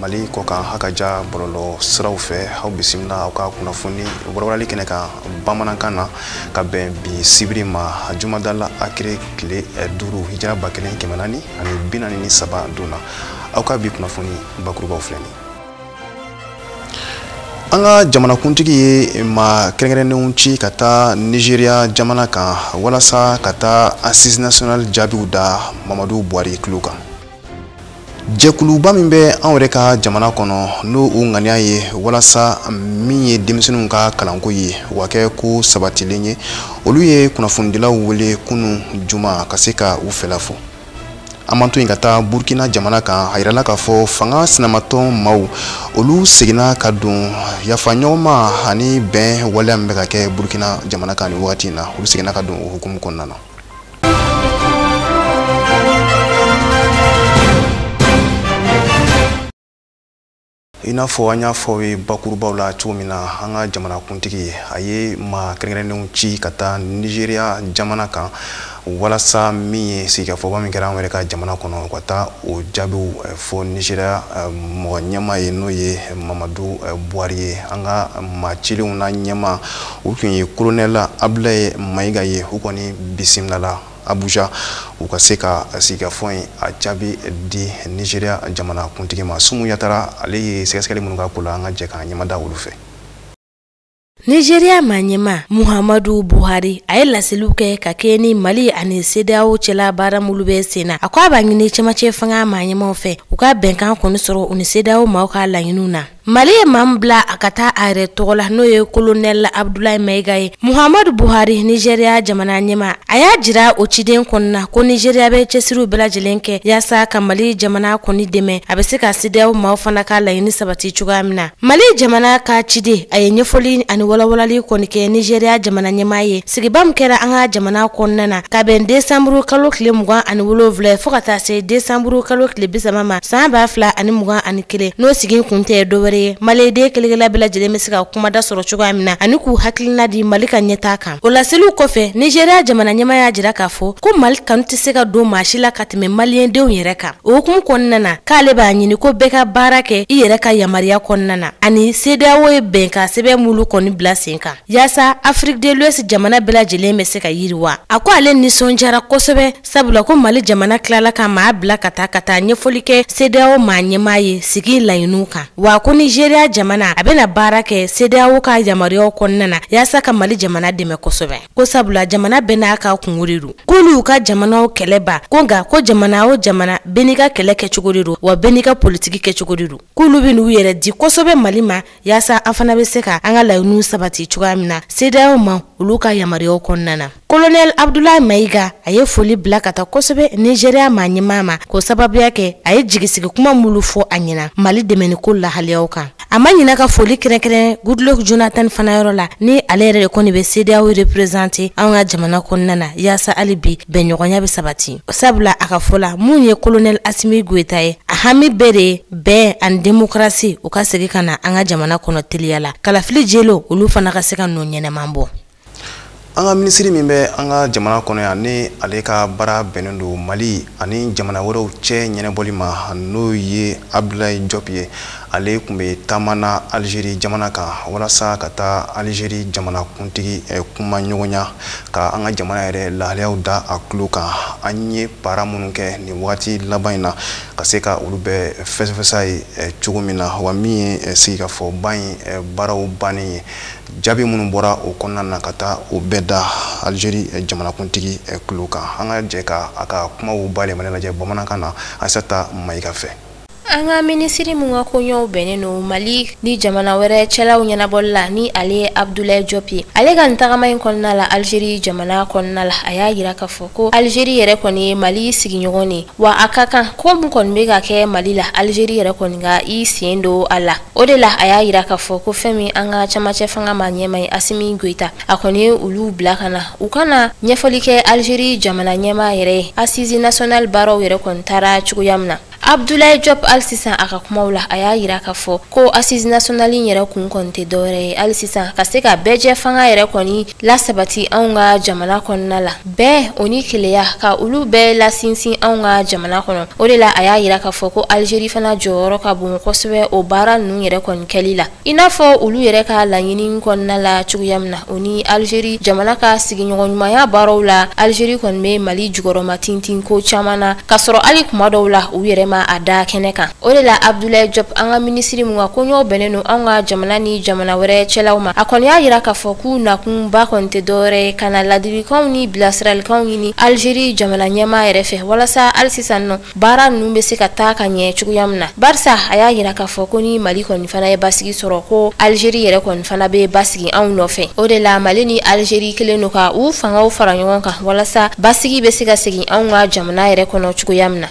mali kɔ kan ha ka ja bɔlɔlɔ siraw fɛ aw bisimila aw ka kunnafoni warawarali kɛnɛ kan bamanankan na ka bɛn bi sibiri ma jumadala akire tile eh, duuru hijira ba kelen kɛmɛ naani ani bi naani ni saba don na aw ka bi kunnafoni bakurubaw filɛ nin an ka jamanakuntigi ye maa kɛrɛnkɛrɛnnenw ci ka taa nigeria jamana kan walasa ka taa assises nationales jaabiw da mamadu buhari tulo kan jɛkuluba min bɛ anw yɛrɛ ka jamana kɔnɔ n'o u ŋaniya ye walasa min ye denmisɛnninw ka kalanko ye o ka kɛ ko sabatilen ye olu ye kunnafonidilaw wele kunu juma ka se ka u fɛla fɔ an man to yen ka taa burkina jamana kan a yirala k'a fɔ fanga sinamatɔn maaw olu seginna ka don yafaɲɔgɔnma ani bɛn waleya min bɛ ka kɛ burkina jamana kan nin wagati in na olu seginna ka don o hukumu kɔnɔna na i n'a fɔ an y'a fɔ ye bakurubaw la cogo min na an ka jamanakuntigi a ye maa kɛrɛnkɛrɛnnenw ci ka taa nizeriya jamana kan walasa min ye sigikafɔba min kɛra an yɛrɛ ka jamana kɔnɔ u ka taa o jaabiw eh, fɔ nizeriya eh, mɔgɔ ɲɛma ye n'o ye mamadu eh, buhari ye an ka maa cilenw na ɲɛma o tun ye kolonɛli abudulayi mayiga ye u kɔni bisimilala abuja u ka se ka sigikafɔ in a jaabi di nigeria jamanakuntigi ma sumu yatara ale ye sɛgɛsɛgɛli minnu k'a ko la an ka jɛ k'an ɲɛmada olu fɛ Nigeria maɲɛma Muhammadu Buhari a ye laseliw kɛ ka kɛɲɛ ni Mali ani CEDEAO cɛla baara minnu bɛ sen na. A ko a b'a ɲini cɛmancɛ fanga maɲɛmaw fɛ u ka bɛnkan kɔni sɔrɔ u ni CEDEAO maaw ka laɲiniw na. Mali ye maa min bila a ka taa a yɛrɛ tɔgɔ la n'o ye kolonɛli abudulayi mayiga ye muhamadu buhari nizeriya jamana ɲɛma a y'a jira o ciden kɔni na ko nizeriya bɛ cɛsiriw bɛɛ lajɛlen kɛ yaasa ka mali jamana kɔni dɛmɛ a bɛ se ka CEDEAO maaw fana ka laɲini sabati cogoya min na mali jamana ka ciden a ye ɲɛfɔli ani walawalali kɔni kɛ nizeriya jamana ɲɛmaa ye sigiba min kɛra an ka jamana kɔnɔna na ka bɛn desanburu kalo tile mugan ani wolonwula fɔ ka taa se desanburu kalo tile bisaba ma san ba fila ani mugan ani kelen n'o sigikun tɛ dɔwɛrɛ ye maliyenden kelen-kelenna bɛɛ lajɛlen bɛ se ka kumada sɔrɔ cogoya min na ani k'u hakilina di mali ka ɲɛtaa kan o laseliw kɔfɛ nizeriya jamana ɲɛma y'a jira k'a fɔ ko mali kanu tɛ se ka don maa si la ka tɛmɛ maliyendenw yɛrɛ kan o hukumu kɔnɔna na k'ale b'a ɲini ko bɛɛ ka baara kɛ i yɛrɛ ka yamariya kɔnɔna na ani sedeyawo ye bɛnkan sɛbɛn minnu kɔni bila sen kan Yaasa afrique de l'ouest jamana bɛɛ lajɛlen bɛ se ka yiriwa a ko ale nisɔndiyara kosɛbɛ sabula ko mali jamana tilala ka maa bila ka taa ka taa ɲɛfɔli kɛ sedeyawo maa ɲɛmaa ye sigi laɲiniw kan wa ko nizeriya jamana a bɛna baara kɛ sedeyawo ka yamaruyaw kɔnɔna na yaasa ka mali jamana dɛmɛ kosɛbɛ ko sabula jamana bɛɛ n'a ka kunko de don k'olu ka jamana kɛlɛba ko nka ko jamana o jamana bɛɛ n'i ka kɛlɛ kɛcogo de don wa bɛɛ n'i ka politiki kɛcogo de don k'olu bɛn'u yɛrɛ di kosɛbɛ mali ma Yaasa an fana bɛ se ka an ka laɲiniw sabati cogoya min na sedeyawo ma olu ka yamaruyaw kɔnɔna na kolonɛli abdulayi mayiga a ye foli bila ka taa kosɛbɛ nizeriya maa ɲɛmaa ma k'o sababuya kɛ a ye jigi sigi kuma minnu fɔ a ɲɛna mali dɛmɛni ko lahaliyaw kan a ma ɲina ka foli kɛrɛnkɛrɛn goodluck jonathan fana yɔrɔ la ni ale yɛrɛ de kɔni bɛ sedeyawo reprezante an ka jamana kɔnɔna na yaasa hali bi bɛnɲɔgɔnya bɛ sabati sabula a ka fɔ la min ye kolonɛli asimi goyita ye a hami bɛɛ de ye bɛn ani demokarasi u ka segin ka na an ka jamana kɔnɔ teliya la kalafili jɛlenw olu fana ka se ka nɔ ɲɛnɛman bɔ an ka minisiri min bɛ an ka jamana kɔnɔ yan ni ale ka baara bɛnnen don mali ani jamana wɛrɛw cɛ ɲɛnabɔli ma n'o ye abdulayi jɔp ye ale tun bɛ taama na alizeri jamana kan walasa ka taa alizeri jamanakuntigi eh, kuma ɲɔgɔnya ka an ka jamana yɛrɛ lahaliyaw da a tulo kan an ye baara minnu kɛ nin wagati laban in na ka se ka olu bɛɛ fɛsɛfɛsɛ a ye eh, cogo min na wa min ye eh, sigikafɔba in eh, baaraw bannen ye jaabi minnu bɔra o kɔnɔna na ka taa o bɛɛ da alizeri jamanakuntigi tulo kan an ka jɛ ka a ka kumaw bayɛlɛmani lajɛ bamanankan na asata mayiga fɛ an ka minisiri min ka koɲɛw bɛnnen don mali ni jamana wɛrɛ cɛlaw ɲɛnabɔli la ni ale ye abdulayi jɔp ye ale ka nin tagama in kɔnɔna la alizeri jamana kɔnɔna la a y'a yira k'a fɔ ko alizeri yɛrɛ kɔni ye mali sigiɲɔgɔn ye wa a ka kan ko min kɔni bɛ ka kɛ mali la alizeri yɛrɛ kɔni ka i sen don a la o de la a y'a yira k'a fɔ ko fɛn min an ka cɛmancɛ fanga maa ɲɛmaa ye asimi goyita a kɔni ye olu bila ka na u ka na ɲɛfɔli kɛ alizeri jamana ɲɛmaa yɛrɛ ye asisi nasiyonali baaraw yɛrɛ kɔni taara cogoya min na abdulayi jɔp hali sisan a ka kumaw la a y'a yira k'a fɔ ko assise nationale in yɛrɛ kun kɔni tɛ dɔwɛrɛ ye hali sisan ka se ka bɛɛjɛfanga yɛrɛ kɔni lasabati anw ka jamana kɔnɔna la bɛn o ni kelenya ka olu bɛɛ lasinsin anw ka jamana kɔnɔ o de la a y'a yira k'a fɔ ko algerie fana jɔyɔrɔ ka bon kosɛbɛ o baara ninnu yɛrɛ kɔni kɛli la i n'a fɔ olu yɛrɛ ka laɲini kɔnɔna la cogoya min na o ni alizeri jamana ka sigiɲɔgɔn ɲumanya baaraw la alizeri kɔni bɛ mali jukɔrɔmatintin ko caman na k'a sɔrɔ hali kuma dɔw la u yɛrɛ ma a da kɛnɛ kan o de la abdulayi jɔp an ka minisiri min ka koɲɔw bɛnnen don anw ka jamana ni jamana wɛrɛ cɛlaw ma a kɔni y'a yira k'a fɔ k'u nakunba kɔni tɛ dɔwɛrɛ ye ka na ladilikanw ni bilasiralikanw ɲini alizeri jamana ɲɛmaa yɛrɛ fɛ walasa hali sisan nɔ Baara ninnu bɛ se ka taa ka ɲɛ cogoya min na barisa a y'a yira k'a fɔ ko ni mali kɔni fana ye basigi sɔrɔ ko alizeri yɛrɛ kɔni fana bɛ basigi anw nɔfɛ o de la mali ni alizeri kelen don ka u fangaw fara ɲɔgɔn kan walasa basigi bɛ se ka segin anw ka jamana yɛrɛ kɔnɔ cogoya min na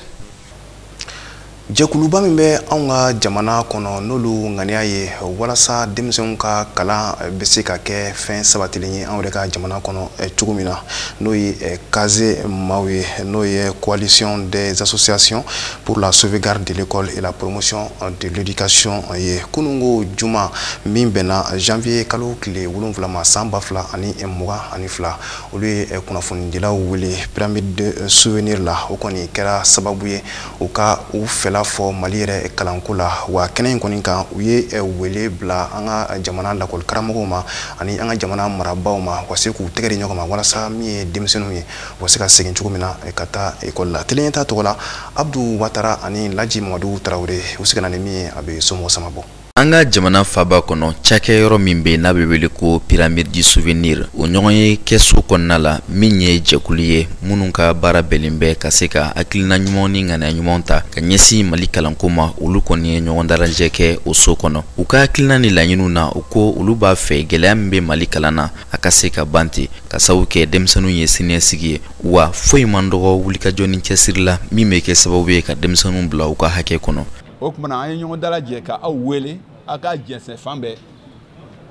jɛkuluba min bɛ anw ka jamana kɔnɔ n'olu ŋaniya ye walasa denmisɛnw ka kalan bɛ se ka kɛ fɛn sabatilen ye anw yɛrɛ ka jamana kɔnɔ cogo min na n'o ye eh, kaze maaw ye n'o ye coalition des associations pour la sauvegarde de l'école et la promotion de l'éducation ye kunungo juma min bɛnna janvier kalo tile wolonwula ma san ba fila ani mugan ani fila olu ye eh, kunnafonidilaw wele pyramide de souvenir la o kɔni kɛra sababu ye u ka u fɛla fɔ mali yɛrɛ kalanko la wa kɛnɛ in kɔni kan u ye eh, wele bila an ka eh, jamana lakɔli karamɔgɔw ma ani an ka jamana marabaw ma u ka se k'u tɛgɛ di ɲɔgɔn ma walasa min ye denmisɛnninw ye u ka se ka segin cogo min na eh, ka taa ekɔli la tele ɲɛta tɔgɔ la abdu watara ani laji mamadu tarawele u se ka na ni min ye a bɛ somɔgɔ sama bɔ an ka jamana faba kɔnɔ cakɛyɔrɔ min bɛ n'a bɛ wele ko pyramide du souvenir o ɲɔgɔnye kɛso kɔnɔna la min ye jɛkulu ye minnu ka baara bɛnlen bɛ ka se ka hakilina ɲuman ni ŋaniya ɲuman ta ka ɲɛsin mali kalanko ma olu kɔni ye ɲɔgɔn dalajɛ kɛ o so kɔnɔ u ka hakilina ni laɲiniw na u ko olu b'a fɛ gɛlɛya min bɛ mali kalan na a ka se ka ban ten k'a sabu kɛ denmisɛnninw ye siniɲɛsigi ye wa foyi man dɔgɔ wulikajɔ ni cɛsiri la min bɛ kɛ sababu ye ka denmisɛnninw bila u ka hakɛ kɔnɔ o tuma na an ye ɲɔgɔn dalajɛ ka aw wele a k'a jɛnsɛn fan bɛɛ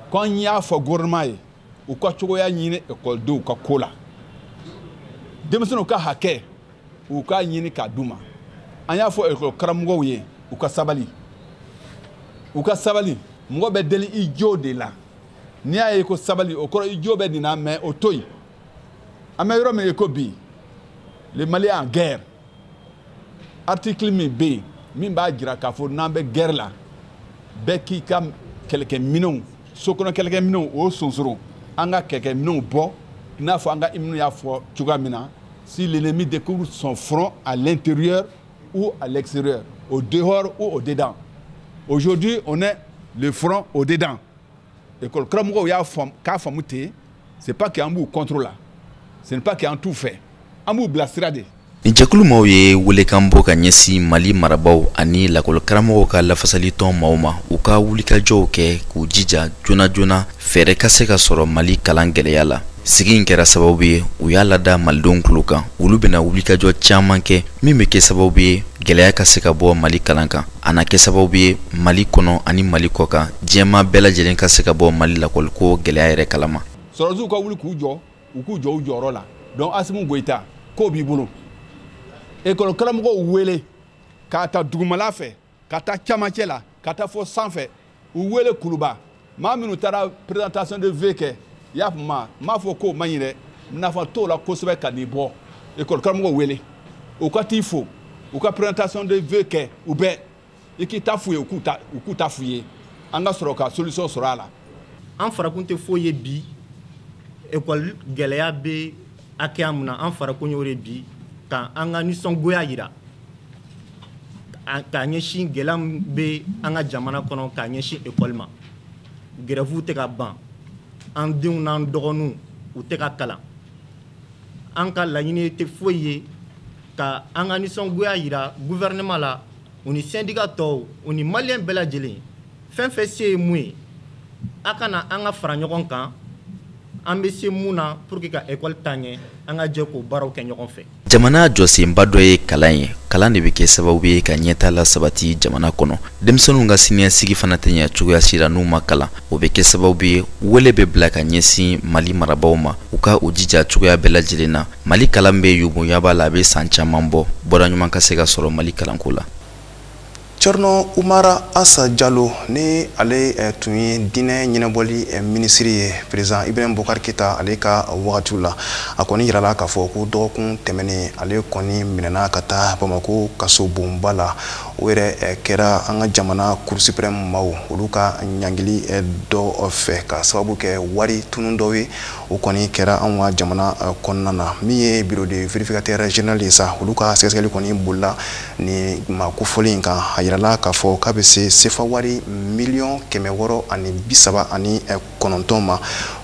ko an y'a fɔ gouvernement ye u ka cogoya ɲini ekɔlidenw ka ko la denmisɛnninw ka hakɛ u k'a ɲini k'a d'u ma an y'a fɔ ekɔli karamɔgɔw ye u ka sabali u ka sabali mɔgɔ bɛ deli i jo de la n'i y'a ye ko sabali o kɔrɔ i jo bɛ nin na mais o to yen an bɛ yɔrɔ min i ko bi le mali est en guerre article min bɛ yen min b'a jira k'a fɔ n'an bɛ guerre la bɛɛ k'i ka kɛlɛkɛminɛnw sokɔnɔ kɛlɛkɛminɛnw o sonsoron an ka kɛlɛkɛminɛnw bɔ i n'a fɔ an ka hymne y'a fɔ cogoya min na si l'ennemi découvre son front à l'intérieur ou à l'extérieur au dehors ou au dedans aujourd'hui on est le front au dedans école karamɔgɔw y'a faamu k'a faamu ten c'est pas que an b'u contre la ce n'est pas que an t'u fɛ an b'u bilasira de nin jɛkulu maaw ye welekan bɔ ka ɲɛsin mali marabaw ani lakɔli karamɔgɔw ka lafasalitɔn maaw ma u ka wulikajɔw kɛ k'u jija joona joona fɛɛrɛ ka se ka sɔrɔ mali kalan gɛlɛya la sigi in kɛra sababu ye u y'a lada malidenw tulo kan olu bɛna wulikajɔ caman kɛ min bɛ kɛ sababu ye gɛlɛya ka se ka bɔ mali kalan kan a na kɛ sababu ye mali kɔnɔ ani mali kɔ kan diɲɛmaa bɛɛ lajɛlen ka se ka bɔ mali lakɔliko gɛlɛya yɛrɛ kalama sɔrɔsiw ka wuli k'u jɔ u k'u jɔ u jɔyɔrɔ la donc asimi goyita ko b'i bolo ekɔli karamɔgɔw wele k'a ta dugumala fɛ ka taa camancɛ la ka taa fo sanfɛ u wele kuluba maa minnu taara présentation de vœux kɛ i y'a faamu n m'a fɔ k'o man ɲi dɛ nafa t'o la kosɛbɛ ka n'i bɔ école karamɔgɔw wele u ka t'i fo u ka présentation de vœux kɛ u bɛɛ i k'i ta f'u ye u k'u ta f'u ye an ka sɔrɔ ka solution sɔrɔ a la an farakun tɛ foyi ye bi ekɔli gɛlɛya bɛ hakɛya min na an farakun y'o de bi ka an ka nisɔngoya yira k'a ɲɛsin gɛlɛya min bɛ an ka jamana kɔnɔ k'a ɲɛsin ekɔli ma gɛrɛfuw tɛ ka ban an denw n'an dɔgɔninw u tɛ ka kalan an ka laɲini tɛ foyi ye ka an ka nisɔngoya yira guvɛrɛnɛma la u ni sɛndika tɔw u ni maliyɛn bɛɛ lajɛlen fɛn fɛn se ye mun ye a ka na an ka fara ɲɔgɔn kan an bɛ se mun na pour que ka ekɔli taa ɲɛ an ka jɛ k'o baaraw kɛ ɲɔgɔn fɛ jamana jɔsenba dɔ ye kalan ye kalan de bɛ kɛ sababu ye ka ɲɛtaa lasabati jamana kɔnɔ denmisɛnninw ka siniɲɛsigi fana tɛ ɲɛ cogoya si la n'u ma kalan o bɛ kɛ sababu ye wele bɛ bila ka ɲɛsin mali marabaaw ma u ka u jija cogoya bɛɛ lajɛlen na mali kalan bɛ yuguyaba la a bɛ san caman bɔ bɔda ɲuman ka se ka sɔrɔ mali kalanko la Cerno Umara Asa Jalo ni ale eh, tun ye diinɛ ɲɛnabɔli eh, minisiri ye perezidan Ibrahim Bubakar Keyita ale ka wagatiw la a kɔni yirala k'a fɔ ko dɔgɔkun tɛmɛnen ale kɔni minɛna ka taa Bamako kasobonba la o yɛrɛ eh, kɛra an ka jamana Cour suprême maaw olu ka ɲangili dɔ fɛ ka sababu kɛ wari tunun dɔw ye o kɔni kɛra anw ka jamana kɔnɔna na min ye bureau de vérificateur général ye sa olu ka sɛgɛsɛgɛli kɔni bolila ni maa kofɔlen in kan a yirala k'a fɔ k'a bɛ se sefa wari miliyɔn kɛmɛ wɔɔrɔ ani bi saba ani eh, kɔnɔntɔn ma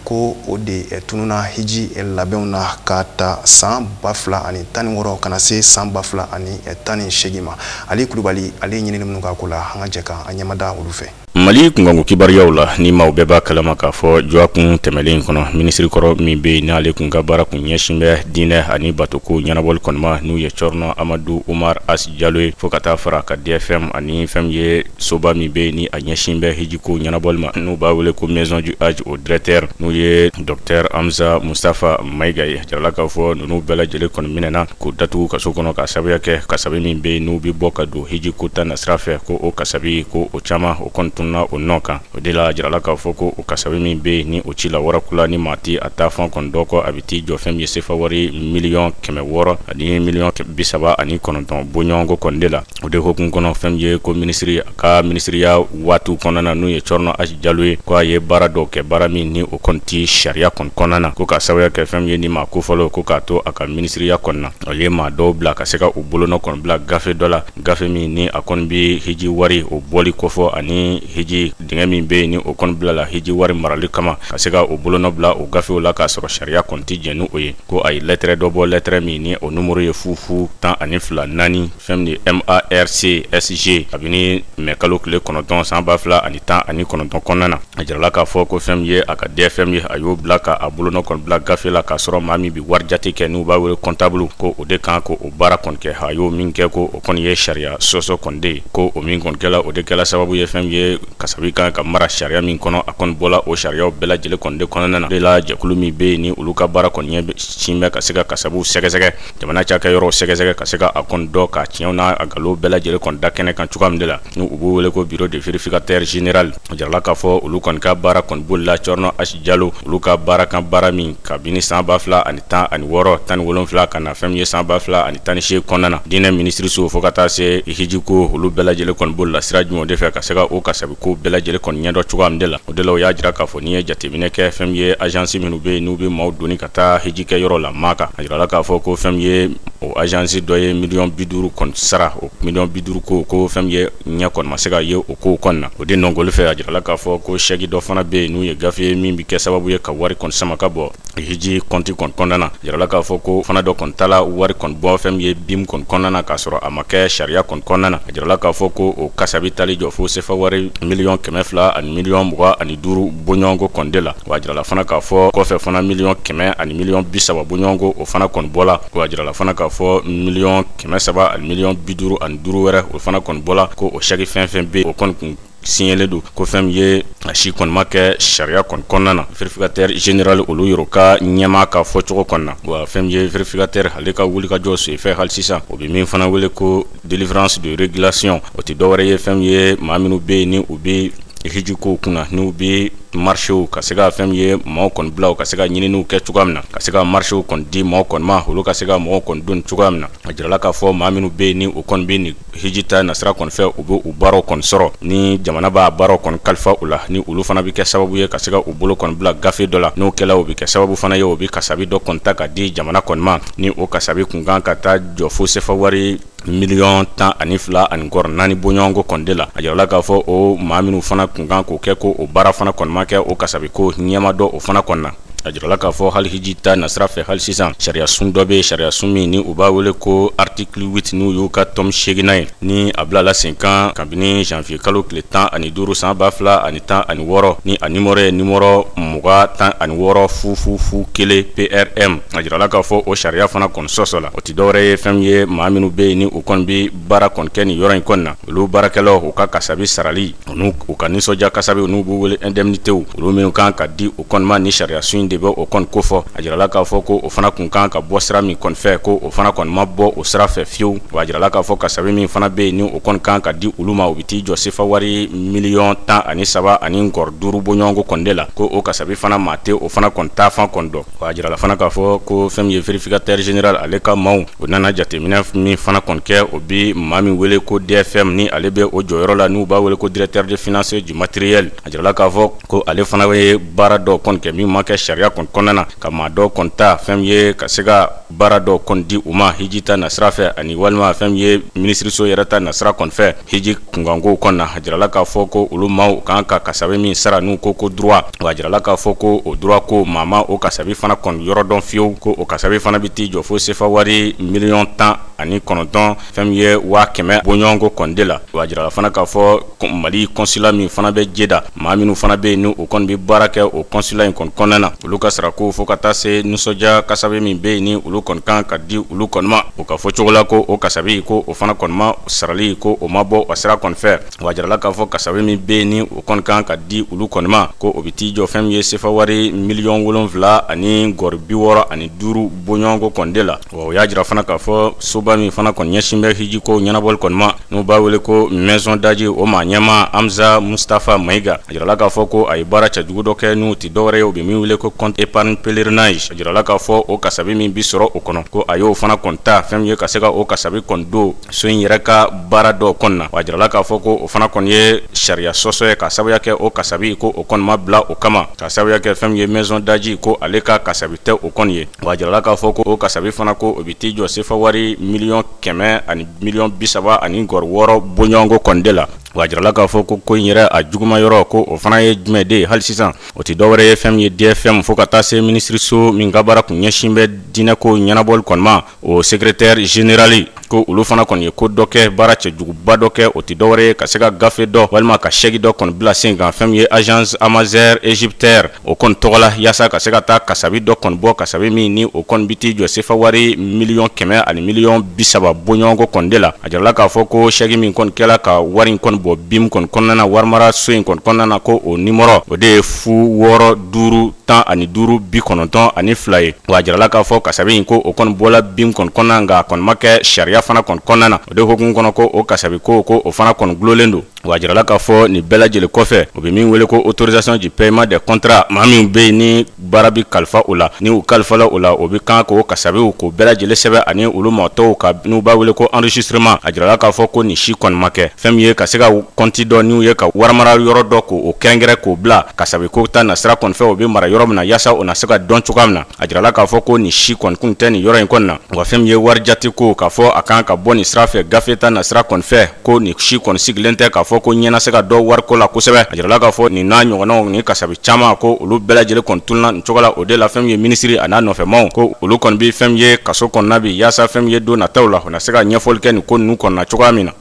ko o de eh, tununa hiji eh, labɛnw na ka ta san ba fila ani tan ni wɔɔrɔ ka na se san ba fila ani tan ni seegin ma ali kulubali ale ɲinini minnu k'a ko la an ka jɛ ka an ɲɛmada olu fɛ mali kunkanko kibaruyaw la ni maaw bɛɛ b'a kalama k'a fɔ dɔgɔkun tɛmɛlen kɔnɔ minisiri kɔrɔ min bɛ yen n'ale kun ka baara kun ɲɛsin bɛ diinɛ ani batoko ɲɛnabɔli kɔni ma n'o ye cerno amadu umar has jalo ye fo ka taa fara ka dfm ani fɛn min ye soba min bɛ yen ni a ɲɛsin bɛ hijiko ɲɛnabɔli ma n'u b'a wele ko maison du hadj o directeur n'o ye docteur hamza mustafa mayiga ye a jirala k'a fɔ ninnu bɛɛ lajɛlen kɔni minɛna k'o datugu kaso kɔnɔ ka sababuya kɛ kasabi min bɛ yen n'u bɛ bɔ ka don hiji ko ta nasira fɛ ko o kasabi ko o caman o kɔni tununa o nɔ kan o de la jirala k'a fɔ ko o kasabi min bɛ yen ni o ci la warakula ni maa tɛ a taa fan kɔni dɔn ko a bɛ t'i jɔ fɛn min ye sefa wari miliyɔn kɛmɛ wɔɔrɔ ani miliyɔn bi saba ani kɔnɔntɔn bɔɲɔgɔnko kɔni de la o de hukumu kɔnɔ fɛn min ye ko minisiri ka minisiriya waatiw kɔnɔna na n'u ye Thierno Hass Diallo ye ko a ye baara dɔw kɛ baara min ni o kɔni tɛ sariya kɔni kɔnɔna na ko ka sababuya kɛ fɛn min ye ni maa ko fɔlɔ ko k'a to a ka minisiriya kɔnɔna na a ye maa dɔw bila ka se ka u bolonɔ kɔni bila gafe dɔ la gafe min ni a kɔni bɛ hiji wari o bɔli kofɔ ani hiji dingɛ min bɛ yen ni o kɔni bila la hiji wari marali kama ka se ka u bolonɔ bila o gafew la k'a sɔrɔ sariya kɔni tɛ jɛn ni o ye ko a ye lɛtɛrɛ dɔ bɔ lɛtɛrɛ min ni o numero ye fu fu tan ani fila naani fɛn de MARCSG kabini mɛ kalo tile kɔnɔntɔn san ba fila ani tan ani kɔnɔntɔn kɔnɔna na a jirala k'a fɔ ko fɛn min ye a ka DFM ye a y'o bila ka a bolonɔ kɔni bila gafe la k'a sɔrɔ maa min bi wari jate kɛ n'u b'a wele comptable ko o de kan ka o baara kɔni kɛ a y'o min kɛ ko o kɔni ye sariya sɔsɔ kɔni de ye ko o min kɔni kɛla o de kɛla sababu ye fɛn min ye kasabi kan ka mara sariya min kɔnɔ a kɔni bɔla o sariyaw bɛɛ lajɛlen kɔni de kɔnɔna na o de la jɛkulu min bɛ yen ni olu ka baara kɔni ɲɛsinnen bɛ ka se ka kasabiw sɛgɛsɛgɛ jamana cakɛyɔrɔw sɛgɛsɛgɛ ka se ka a kɔni dɔn k'a tiɲɛw n'a a galo bɛɛ lajɛlen kɔni da kɛnɛ kan cogoya min de la ni u b'u wele ko bureau de vérificateur général a jirala k'a fɔ olu kɔni ka baara kɔni boli la Thierno Hass Diallo olu ka baara kan baara min kabini san ba fila ani tan ani wɔɔrɔ tan ni wolonfila ka na fɛn min ye san ba fila ani tan ni seegin kɔnɔna na diinɛ minisiriso fo ka taa se hijiko olu bɛɛ lajɛlen kɔni boli la sira jumɛn de fɛ ka se ka o kasabi ko bɛɛ lajɛlen kɔni ɲɛdɔn cogoya min de la o de la u y'a jira k'a fɔ n'i ye jateminɛ kɛ fɛn min ye agence minnu bɛ yen n'u bɛ maaw doni ka ka taa hiji kɛ yɔrɔ la Maka a jirala k'a fɔ ko fɛn min ye o agence dɔ ye miliyɔn bi duuru kɔni sara o miliyɔn bi duuru ko ko fɛn min ye ɲɛ kɔni ma se ka ye o ko kɔnɔna na o de nɔnkolon fɛ a jirala k'a fɔ ko sɛki dɔ fana bɛ yen n'u ye gafe ye min bɛ kɛ sababu ye ka wari kɔni sama ka bɔ hiji kɔnti kɔni kɔnɔna na a jirala k'a fɔ k'o fana dɔ kɔni tala wari kɔni bɔ fɛn min ye BIM kɔni kɔnɔna na k'a sɔrɔ a ma kɛ sariya kɔni kɔnɔna na a jirala k'a fɔ ko o kasabi taal'i jɔ fo sefa wari miliyɔn kɛmɛ fila ani miliyɔn mugan ani duuru bɔɲɔgɔnko kɔni de la Wa a jirala fana k'a fɔ kɔfɛ fana miliyɔn kɛmɛ ani miliyɔn bi saba bɔɲɔgɔnko o fana kɔni bɔla wa a jirala fana k'a fɔ miliyɔn kɛmɛ saba ani miliyɔn bi duuru ani duuru wɛrɛ o fana kɔni bɔla ko o sɛki fɛn fɛn bɛ o kɔni kun siɲɛlen don ko fɛn min ye a si kɔni ma kɛ sariya kɔni kɔnɔna na vérificateur général olu yɛrɛ ka ɲɛmaa ka fɔ cogo kɔnɔna na wa fɛn min ye vérificateur ale ka wulikajɔ sen fɛ hali sisan o bɛ min fana wele ko Délivrance de régulation o tɛ dɔwɛrɛ ye fɛn min ye maa minnu bɛ yen ni u bɛ hijiko kunna n'u bɛ marchéw ka se ka fɛn min ye maaw kɔni bilaw ka se ka ɲininiw kɛ cogoya min na ka se ka marchéw kɔni di maaw kɔni ma olu ka se ka mɔgɔw kɔni don cogoya min na a jirala k'a fɔ maa minnu bɛ yen ni u kɔni bɛ nin hijita nasira kɔni fɛ u bɛ u baaraw kɔni sɔrɔ ni jamana b'a baaraw kɔni kalifa u la ni olu fana bɛ kɛ sababu ye ka se ka u bolo kɔni bila gafe dɔ la n'o kɛla o bɛ kɛ sababu fana ye o bɛ kasabi dɔ kɔni ta ka di jamana kɔni ma ni o kasabi kun kan ka taa jɔ fo sefa wari miliyɔn tan ani fila ani nkɔrɔ naani bɔɲɔgɔnko kɔni de la a jirala k'a fɔ o maa minnu fana kun kan k'o kɛ ko o baara fana kɔni ma kɛ o kasabi ko ɲɛ ma dɔn o fana kɔni na a jirala k'a fɔ hali hiji ta nasira fɛ hali sisan sariyasun dɔ bɛ sariyasun min ni u b'a wele ko artikili 8 n'u y'u ka tɔmi seeginan ye ni a bilala senkan kabini janvier kalo tile tan ani duuru san ba fila ani tan ani wɔɔrɔ ni a nimɔrɔ ye nimɔrɔ mugan tan ani wɔɔrɔ fufufu kelen PRM a jirala k'a fɔ o sariya fana kɔni sɔsɔla o tɛ dɔwɛrɛ ye fɛn ye maa minnu bɛ yen ni u kɔni bɛ baara kɔni kɛ nin yɔrɔ in kɔni na olu baarakɛlaw u ka kasabi sarali u u ka nisɔndiya kasabiw n'u b'u wele indemnité olu minnu kan ka di u kɔni ma ni sariya sun in de bɛ o kɔni kofɔ a jirala k'a fɔ ko o fana kun kan ka bɔ sira min kɔni fɛ ko o fana kɔni ma bɔ o sira fɛ fiyewu wa a jirala k'a fɔ kasabi min fana bɛ yen ni o kɔni kan ka di olu ma o bɛ t'i jɔ sefa wari miliyɔn tan ani saba ani nkɔrɔ duuru bɔɲɔgɔnko kɔni de la ko o kasabi fana maa tɛ o fana kɔni taafan kɔni dɔn Wa a jirala fana k'a fɔ ko fɛn min ye vérificateur général ale ka maaw, o nana jateminɛ min fana kɔni kɛ, o bɛ maa min wele ko DFM ni ale bɛ o jɔyɔrɔ la, n'u b'a wele ko directeur des finances du matériel a jirala k'a fɔ ko ale fana ye baara dɔ kɔni kɛ min ma kɛ sariya kɔni kɔnɔna na, ka maa dɔ kɔni ta fɛn min ye ka se ka baara dɔ kɔni di u ma hiji ta nasira fɛ ani walima fɛn min ye minisiriso yɛrɛ ta nasira kɔni fɛ. Hiji kunkanko kɔni na a jirala k'a fɔ ko olu maaw kan ka kasabi min sara n'u ko ko droit wa a jirala k'a fɔ ko o droit ko maa ma o kasabi fana kɔni yɔrɔ dɔn fiyewu ko o kasabi fana bɛ t'i jɔ fo sefa wari miliyɔn tan ani kɔnɔntɔn fɛn min ye waa kɛmɛ bɔɲɔgɔnko kɔni de la wa a jirala fana k'a fɔ Mali consulat min fana bɛ Jeda maa minnu fana bɛ yen ni o kɔni bɛ baara kɛ o kɔnsula in kɔni kɔnɔna na olu ka sarako fo ka taa se nisɔndiya kasabi min bɛ yen ni olu kɔni kan ka di olu kɔni ma o ka fɔ cogo la ko o kasabi ko o fana kɔni ma sarali ko o ma bɔ a sira kɔni fɛ wa a jirala k'a fɔ kasabi min bɛ yen ni o kɔni kan ka di olu kɔni ma ko o bɛ t'i jɔ fɛn min ye sefa wari miliyɔn wolonwula ani nkɔri bi wɔɔrɔ ani duuru bɔɲɔgɔnko kɔni de la O y'a jira fana k'a fɔ soba min fana kɔni ɲɛsin bɛ hijiko ɲɛnabɔli kɔni ma n'u b'a wele ko maison du Hadj o maa ɲɛmaa Hamza Mustafa Mayiga a jirala k'a fɔ ko a ye baara cɛjugu dɔ kɛ n'o tɛ dɔwɛrɛ ye u bɛ min wele ko compte épargne pèlerinage a jirala k'a fɔ o kasabi min bɛ sɔrɔ o kɔnɔ ko a y'o fana kɔni ta fɛn ye ka se ka o kasabi kɔni don so in yɛrɛ ka baara dɔ kɔni na a jirala k'a fɔ ko o fana kɔni ye sariya sɔsɔ ye k'a sababuya kɛ o kasabi ko o kɔni ma bila o kama k'a sababuya kɛ fɛn ye maison du Hadj ko ale ka kasabi tɛ o kɔni ye Wa a jirala k'a fɔ ko o kasabi fana ko o bɛ t'i jɔ sefa wari miliyɔn kɛmɛ ani miliyɔn bi saba ani nkɔri wɔɔrɔ bɔɲɔgɔnko kɔni de la wa a jirala k'a fɔ ko ko in yɛrɛ a juguman yɔrɔ ko o fana ye jumɛn de ye hali sisan o tɛ dɔwɛrɛ ye fɛn ye DFM fo ka taa se minisiriso min ka baara kun ɲɛsin bɛ diinɛko ɲɛnabɔli kɔni ma o secrétaire général ko olu fana kɔni ye ko dɔ kɛ baara cɛjuguba dɔ kɛ o tɛ dɔwɛrɛ ye ka se ka gafe dɔ walima ka sɛki dɔ kɔni bila sen kan fɛn min ye agence amazɛr egyptair o kɔni tɔgɔ la yaasa ka se ka taa kasabi dɔ kɔni bɔ kasabi min ni o kɔni bi t'i jɔ sefa wari miliyɔn kɛmɛ ani miliyɔn bi saba bɔɲɔgɔnko kɔni de la a jirala k'a fɔ ko sɛki min kɔni kɛla ka wari in kɔni bɔ bim kɔni kɔnɔna na warimara so in kɔni kɔnɔna na ko o nimɔrɔ o de ye fu wɔɔrɔ duuru tan ani duuru bi kɔnɔntɔn ani fila ye wa a jirala k'a fɔ kasabi in ko o kɔni bɔla bim kɔni kɔnɔna nka a kɔni ma kɛ sariya fana kɔni kɔnɔna na o de hukumu kɔnɔ ko o kasabi ko ko o fana kɔni dulolen don wa a jirala k'a fɔ nin bɛɛ lajɛlen kɔfɛ o bɛ min wele ko autorisation du paiement de contrat maa min bɛ yen ni baara bɛ kalifa o la ni u kalifala o la o bɛ kan k'o kasabiw ko bɛɛ lajɛlen sɛbɛn ani olu maa tɔw ka n'u b'a wele ko enregistrement a jirala k'a fɔ ko nin si kɔni ma kɛ fɛn min ye ka se ka kɔnti dɔ n'u ye ka warimarayɔrɔ dɔ k'o kɛrɛnkɛrɛn k'o bila kasabi ko ta nasira kɔni fɛ o bɛ mara yɔrɔ min na yaasa o na se ka dɔn cogoya min na a jirala k'a fɔ ko nin si kɔni kun tɛ nin yɔrɔ in kɔni na wa fɛn min ye wari jate ko k'a fɔ a kan ka bɔ nin sira fɛ gafe ta nasira kɔni fɛ ko nin si kɔni sigilen tɛ k'a fɔ ko ɲɛ na se ka dɔn wariko la kosɛbɛ a jirala k'a fɔ nin n'a ɲɔgɔnnaw ni kasabi caman ko olu bɛɛ lajɛlen kɔni tununa nin cogo la o de la fɛn min ye minisiri a n'a nɔfɛmaw ko olu kɔni bɛ fɛn min ye kaso kɔnɔna bi yaasa fɛn min ye don nataw la u na se ka ɲɛfɔli kɛ nin ko ninnu kɔnɔna cogoya min na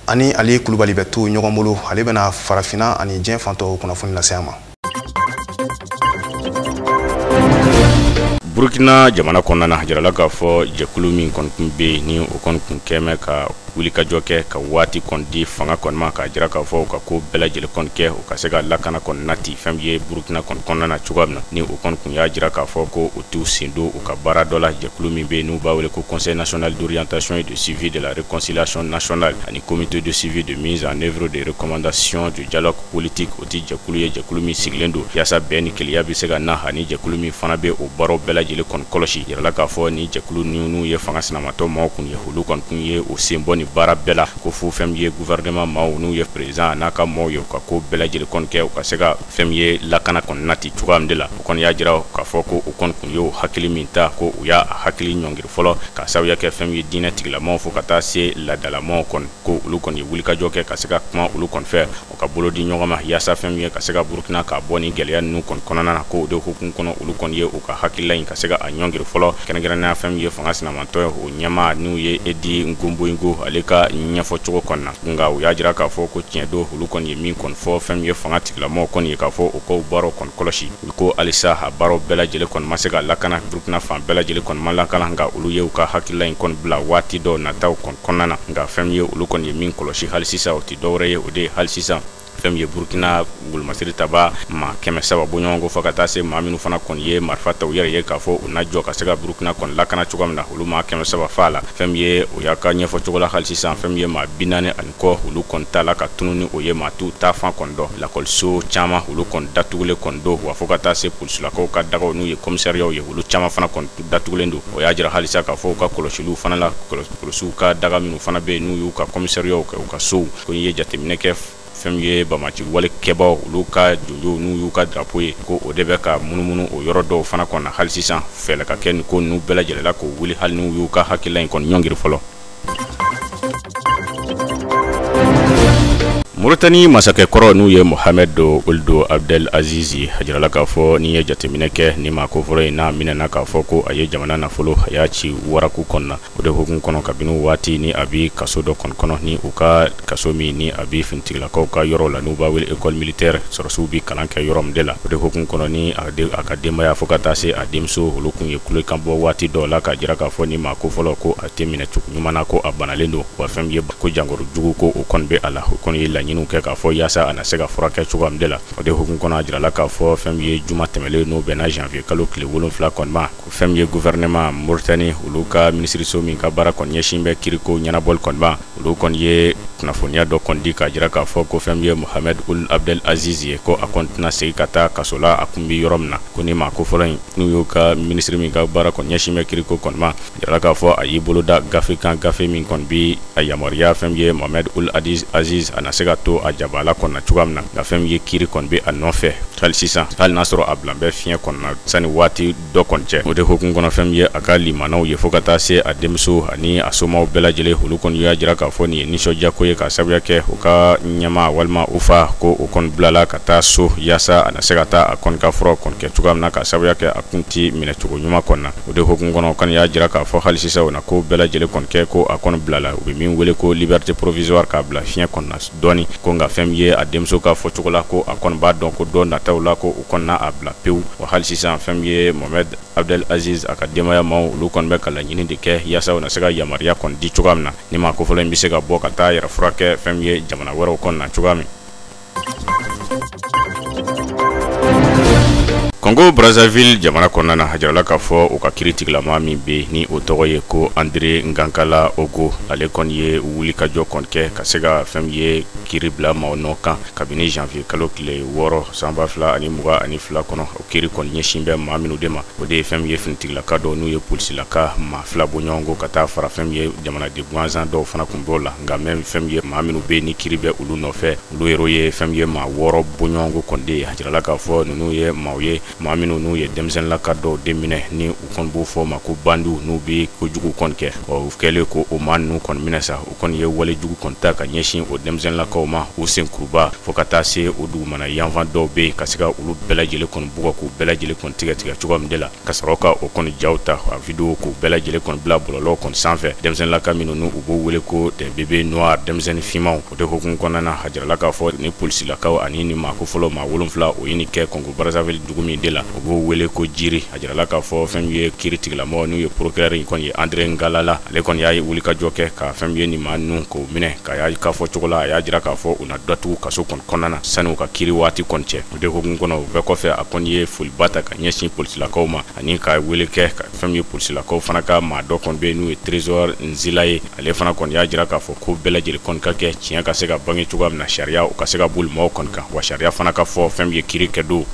an ni ali kulubali bɛ to ɲɔgɔn bolo ale bɛna farafina ani diɲɛ fan tɔw kunnafoni lase an ma burukina jamana kɔnɔna na a jirala k'a fɔ jɛkulu min kɔni tun bɛ yen ni o kɔni tun kɛmɛ ka wulikajɔ kɛ ka waati kɔni di fanga kɔni ma k'a jira k'a fɔ u ka ko bɛɛ lajɛlen kɔni kɛ u ka se ka lakana kɔni nati fɛn ye burukina kɔni kɔnɔna na cogoya min na ni o kɔni tun y'a jira k'a fɔ ko t'u sen don u ka baara dɔ la jɛkulu min bɛ n'u b'a wele ko conseil national d'orientation et de suivi de la réconciliation nationale ani comité de suivi de mise en œuvre des recommandations du dialogue politique o tɛ jɛkulu ye jɛkulu min sigilen don yaasa bɛn ni kelenya bɛ se ka na ani jɛkulu min fana bɛ o baaraw bɛɛ lajɛlen kɔni kɔlɔsi yirala k'a fɔ ni jɛkulu ninnu ye fanga sinamatɔn maaw tun ye olu kɔni tun ye u sen bɔ nin baara bɛɛ la ko fo fɛn ye gouvernement maaw n'u ye président a n'a ka maaw ye u ka ko bɛɛ lajɛlen kɔni kɛ u ka se fɛn ye lakana kɔni nati cogoya min de la u kɔni y'a jira k'a fɔ ko u kɔni tun y'o hakili min ta ko u y'a hakili ɲɔngiri fɔlɔ k'a sababuya kɛ fɛn ye diinɛ tigilamaw fo ka taa se laadalamaw kɔni ko olu kɔni ye wulikajɔ kɛ ka se ka kuma olu kɔni fɛ u ka bolo di ɲɔgɔn ma yaasa fɛn ye ka se ka burukina k'a bɔ nin gɛlɛya ninnu kɔni kɔnɔna na ko o de hukumu kɔnɔ olu kɔni ye u ka hakilila in ka se ka a ɲɔngiri fɔlɔ kɛrɛnkɛrɛnnenya fɛn ye fanga sinamatɔn ye o ɲɛmaa n'u ye eddie komboigo ale ka ɲɛfɔcogo kɔnɔna na nka u y'a jira k'a fɔ ko tiɲɛ don olu kɔni ye min kɔni fɔ fɛn ye fanga tigilamɔgɔ kɔni ye k'a fɔ u k'o baaraw kɔni kɔlɔsi ko halisa a baaraw bɛɛ lajɛlen kɔni ma se ka lakana burukina fan bɛɛ lajɛlen kɔni ma lakana nka olu ye u ka hakilila in kɔni bila waati dɔw nataw kɔni kɔnɔna na nka fɛn ye olu kɔni ye min kɔlɔsi hali sisan o tɛ dɔwɛrɛ ye o de ye hali sisan fɛn ye burukina golomasiri tabaa maa kɛmɛ saba bɔɲɔgɔnko fo ka taa se maa minnu fana kɔni ye marifa ta u yɛrɛ ye k'a fɔ u na jɔ ka se ka burukina kɔni lakana cogoya min na olu maa kɛmɛ saba faala fɛn ye o y'a ka ɲɛfɔ cogo la hali sisan fɛn ye maa bi naani ani kɔ olu kɔni tala ka tunun ni o ye maa t'u taafan kɔni dɔn lakɔliso caman olu kɔni datugulen kɔni don wa fo ka taa se polisilakaw ka dagaw n'u ye kɔmisariyaw ye olu caman fana kɔni datugulen don o y'a jira halisa k'a fɔ u ka kɔlɔsiliw fana la polisiw ka daga minnu fana bɛ yen n'u y'u ka kɔmisariyaw kɛ u ka sow ko ye jateminɛ kɛ fɛn ye bamaci wale kɛbaaw olu ka jɔnjɔn n'u y'u ka drapeau ye ko o de bɛ ka munumunu o yɔrɔ dɔw fana kɔnɔna hali sisan fɛɛlɛ ka kɛ nin ko ninnu bɛɛ lajɛlen la k'o wuli hali n'u y'u ka hakilila in kɔni ɲɔngiri fɔlɔ Mauritanie masakɛ kɔrɔ n'u ye Mohamed Ould Abdel Aziz, a jirala k'a fɔ n'i ye jateminɛ kɛ ni maa kofɔlen in n'a minɛna k'a fɔ ko a ye jamana nafolo a y'a ci waraku kɔnɔna, o de hukumu kɔnɔ kabini waati ni a bɛ kaso dɔ kɔni kɔnɔ ni u ka kaso min ni a bɛ finitigilakaw ka yɔrɔ la n'u b'a wele école militaire sɔrɔsiw bɛ kalan kɛ yɔrɔ min de la, o de hukumu kɔnɔ ni a ka denbaya fo ka taa se a denmuso olu kun ye kulekan bɔ waati dɔw la k'a jira k'a fɔ ni maa kofɔlen ko a tɛ minɛ cogo ɲuman na ko a banalen don wa fɛn ye ko jankoro jugu ko o kɔni bɛ a la o kɔni ye laɲiniw kɛ k'a fɔ yaasa a na se ka furakɛ cogoya min de la o de hukumu kɔnɔ a jirala k'a fɔ fɛn ye juma tɛmɛlen n'o bɛnna janvier kalo tile wolonfila kɔni ma ko fɛn ye gouvernement Mauritanie olu ka minisiriso min ka baara kɔni ɲɛsin bɛ kiriko ɲɛnabɔli kɔni ma olu kɔni ye kunnafoniya dɔ kɔni di k'a jira k'a fɔ ko fɛn ye Mohamed Ould Abdel Aziz ye ko a kɔni tɛna segin ka taa kaso la a kun bɛ yɔrɔ min na ko ni maa kofɔlen in n'u y'u ka minisiri min ka baara kɔni ɲɛsin bɛ kiriko kɔni ma a jirala k'a fɔ a y'i bolo da gafe kan gafe min kɔni bi a yamaruya fɛn ye Mohamed Ould Abdel Aziz a na se ka to a jabaala kɔnɔna cogoya min na nka fɛn ye kiri kɔni bɛ a nɔfɛ hali sisan hali n'a sɔrɔ a bilan bɛ fiɲɛ kɔnɔna sani waati dɔ kɔni cɛ o de hukumu kɔnɔ fɛn ye a ka limanaw ye fo ka taa se a denmuso ani a somaw bɛɛ lajɛlen olu kɔni y'a jira k'a fɔ nin ye nisɔndiya ko ye k'a sababuya kɛ u ka ɲɛmaa walima u fa ko o kɔni bilala ka taa so yaasa a na se ka taa a kɔni ka fura kɔni kɛ cogoya min na k'a sababuya kɛ a kun tɛ minɛ cogo ɲuman kɔni na o de hukumu kɔnɔ o kɔni y'a jira k'a fɔ hali sisan o na ko bɛɛ lajɛlen kɔni kɛ ko a kɔni bilala u bɛ min wele ko liberté provisoire k'a bila fiɲɛ kɔnɔna dɔɔni ko nka fɛn min ye a denmuso ka fɔ cogo la ko a kɔni b'a dɔn ko don nataw la ko u kɔni na a bila pewu wa hali sisan fɛn min ye Mohamed Abdel Aziz a ka denbaya maaw olu kɔni bɛ ka laɲini de kɛ yaasa u na se ka yamaruya kɔni di cogoya min na ni maa kofɔlen in bɛ se ka bɔ ka taa a yɛrɛ furakɛ fɛn min ye jamana wɛrɛw kɔnɔna cogoya min Kɔngo Brazzaville jamana kɔnɔna na a jirala k'a fɔ u ka kiritigilamaa min bɛ yen ni o tɔgɔ ye ko Andre Ngakala Oko ale kɔni ye wulikajɔ kɔni kɛ ka se ka fɛn min ye kiri bila maaw nɔ kan kabini janvier kalo tile wɔɔrɔ san ba fila ani mugan ani fila kɔnɔ kiri kɔni ɲɛsin bɛ maa minnu de ma o de ye fɛn min ye finitigilaka dɔw n'u ye polisilaka maa fila bɔɲɔgɔnko ka taa fara fɛn min ye jamanaden gansan dɔw fana kun b'o la nka même fɛn min ye maa minnu bɛ ni kiri bɛ olu nɔfɛ olu yɛrɛ ye fɛn min ye maa wɔɔrɔ bɔɲɔgɔnko kɔni de ye a jirala k'a fɔ ninnu ye maaw ye maa minnu n'u ye denmisɛnninlaka dɔw de minɛ ni u kɔni b'o fɔ ma ko bandiw n'u bɛ kojugu kɔni kɛ ɔ u kɛlen ko o maa ninnu kɔni minɛ sa u kɔni ye wale jugu kɔni ta ka ɲɛsin o denmisɛnninlakaw ma u senkuruba fo ka taa se u dugumana yanfan dɔw bɛ yen ka se ka olu bɛɛ lajɛlen kɔni bugɔ k'u bɛɛ lajɛlen kɔni tigɛtigɛ cogoya min de la ka sɔrɔ ka o kɔni jaw ta a video k'u bɛɛ lajɛlen kɔni bila bɔlɔlɔw kɔni sanfɛ denmisɛnninlaka minnu n'u b'o wele ko des bébés noirs denmisɛnnin finmanw o de hokumu kɔnɔna na a jirala k'a fɔ ni polisilakaw ani ni maa ko fɔlɔ maa wolonfila o ye nin kɛ kɔngo brazzaville dugu min de la u b'o wele ko Djiri A jirala k'a fɔ fɛn min ye kiritigilamɔgɔ n'u ye procureur in kɔni ye Andre Ngalala ale kɔni y'a ye wulikajɔ kɛ ka fɛn min ye nin maa ninnu k'o minɛ ka y'a k'a fɔ cogo la a y'a jira k'a fɔ u na datugu kaso kɔni kɔnɔna na sani u ka kiri waati kɔni cɛ o de hokumu kɔnɔ o bɛɛ kɔfɛ a kɔni ye foliba ta ka ɲɛsin polisilakaw ma ani ka wele kɛ ka fɛn min ye polisilakaw fana ka maa dɔ kɔni bɛ n'u ye Trésor Nzila ye ale fana kɔni y'a jira k'a fɔ ko bɛɛ lajɛlen kɔni ka kɛ tiɲɛ ka se ka bange cogoya min na sariya u ka se ka boli maaw kɔni kan wa sariya fana ka fɔ fɛn min ye kiri kɛ don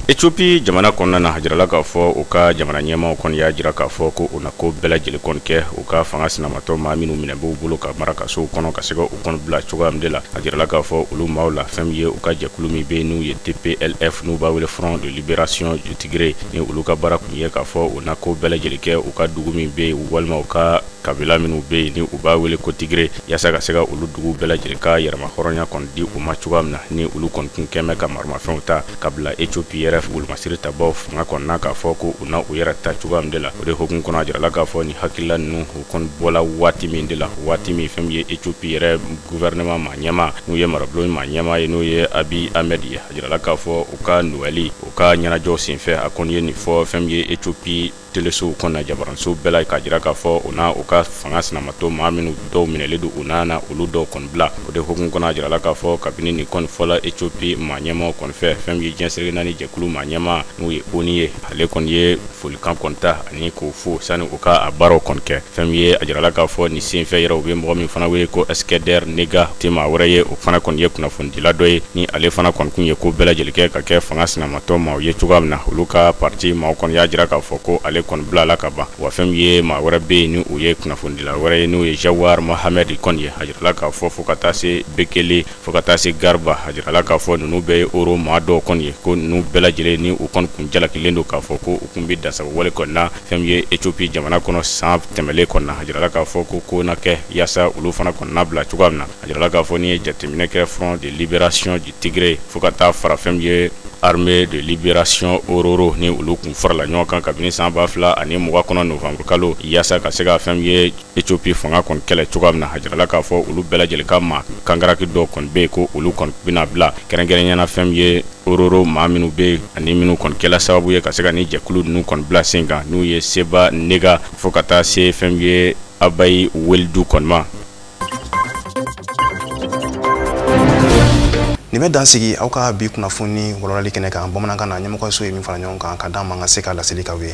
Ethiopie jamana kɔnɔna na a jirala k'a fɔ u ka jamana ɲɛmaaw kɔni y'a jira k'a fɔ ko u na ko bɛɛ lajɛlen kɔni kɛ u ka fanga sinamatɔn maa minnu minɛ b'u bolo ka mara kasow kɔnɔ ka se ka u kɔni bila cogoya min de la a jirala k'a fɔ olu maaw la fɛn min ye u ka jɛkulu min bɛ yen n'u ye TPLF n'u b'a wele front de liberation du gere ni olu ka baara kun ye k'a fɔ u na ko bɛɛ lajɛlen kɛ u ka dugu min bɛ yen walima u ka kabila minnu bɛ yen ni u b'a wele ko Tigré yaasa ka se ka olu dugu bɛɛ lajɛlen ka yɛrɛma hɔrɔnya kɔni di u ma cogoya min na ni olu kɔni kun kɛn bɛ ka maramafɛnw ta ka bila ethiopie yɛrɛ wolomasiri tabaw fanga kɔni na k'a fɔ ko u na u yɛrɛ ta cogoya min de la o de hokumu kɔnɔ a jirala k'a fɔ nin hakilila ninnu u kɔni bɔla waati min de la waati min fɛn min ye ethiopie yɛrɛ guvɛrɛnɛman maa ɲɛmaa n'u ye marabulon maa ɲɛmaa ye n'o ye Abiy Ahmed ye a jirala k'a fɔ u ka Nowɛli u ka ɲɛnajɛw senfɛ a kɔni ye nin fɔ fɛn min ye ethiopie telesow kɔnɔna jabaransow bɛɛ la k'a jira k'a fɔ u na u ka fanga sinamatɔn maa minnu dɔw minɛlen don u na na olu dɔw kɔni bila o de hukumu kɔnɔ a jirala k'a fɔ kabini nin kɔni fɔla ethiopie maa ɲɛmaaw kɔni fɛ fɛn min ye diɲɛ seleke naani jɛkulu maa ɲɛmaa n'o ye ONU ye ale kɔni ye folikan kɔni ta ani k'u fo sani u ka a baaraw kɔni kɛ fɛn min ye a jirala k'a fɔ nin senfɛ yɛrɛ u bɛ mɔgɔ min fana wele ko eskinder nega tɛ maa wɛrɛ ye o fana kɔni ye kunnafonidila dɔ ye ni ale fana kɔni kun ye ko bɛɛ lajɛlen kɛ ka kɛ fanga sinamatɔ maaw ye cogoya min na olu ka parti maaw kɔni y'a jira k'a fɔ ko ale kɔni bilala ka ban wa fɛn min ye maa wɛrɛ bɛ yen ni o ye kunnafonidila wɛrɛ ye n'o ye jawar mohamed kɔni ye a jirala k'a fɔ fo ka taa se bekele fo ka taa se garba a jirala k'a fɔ ninnu bɛɛ ye oro maa dɔw kɔni ye ko ninnu bɛɛ lajɛlen ni u kɔni kun jalakilen don k'a fɔ ko u kun bɛ dansago wale kɔni na fɛn min ye Ethiopie jamana kɔnɔ san tɛmɛlen kɔni na a jirala k'a fɔ ko ko na kɛ yaasa olu fana kɔni na bila cogoya min na a jirala k'a fɔ n'i ye jateminɛ kɛ front de libération du tigré fo ka taa fara fɛn min ye armée de libération ororo ni olu kun farala ɲɔgɔn kan kabini san ba fila ani mugan kɔnɔ novembre kalo yaasa ka se ka fɛn min ye Ethiopie fanga kɔni kɛlɛ cogoya min na a jirala k'a fɔ olu bɛɛ lajɛlen ka maa kangaraki dɔ kɔni bɛ yen ko olu kɔni bɛna bila kɛrɛnkɛrɛnya na fɛn min ye ororo maa minnu bɛ yen ani minnu kɔni kɛla sababu ye ka se ka nin jɛkulu ninnu kɔni bila sen kan n'o ye seba nega fo ka taa se fɛn min ye abay weldu kɔni ma nin bɛ dan sigi aw ka bi kunnafoni walawalali kɛnɛ kan bamanankan na ɲɛmɔgɔso ye min fara ɲɔgɔn kan ka d'an ma ka se ka laseli k'aw ye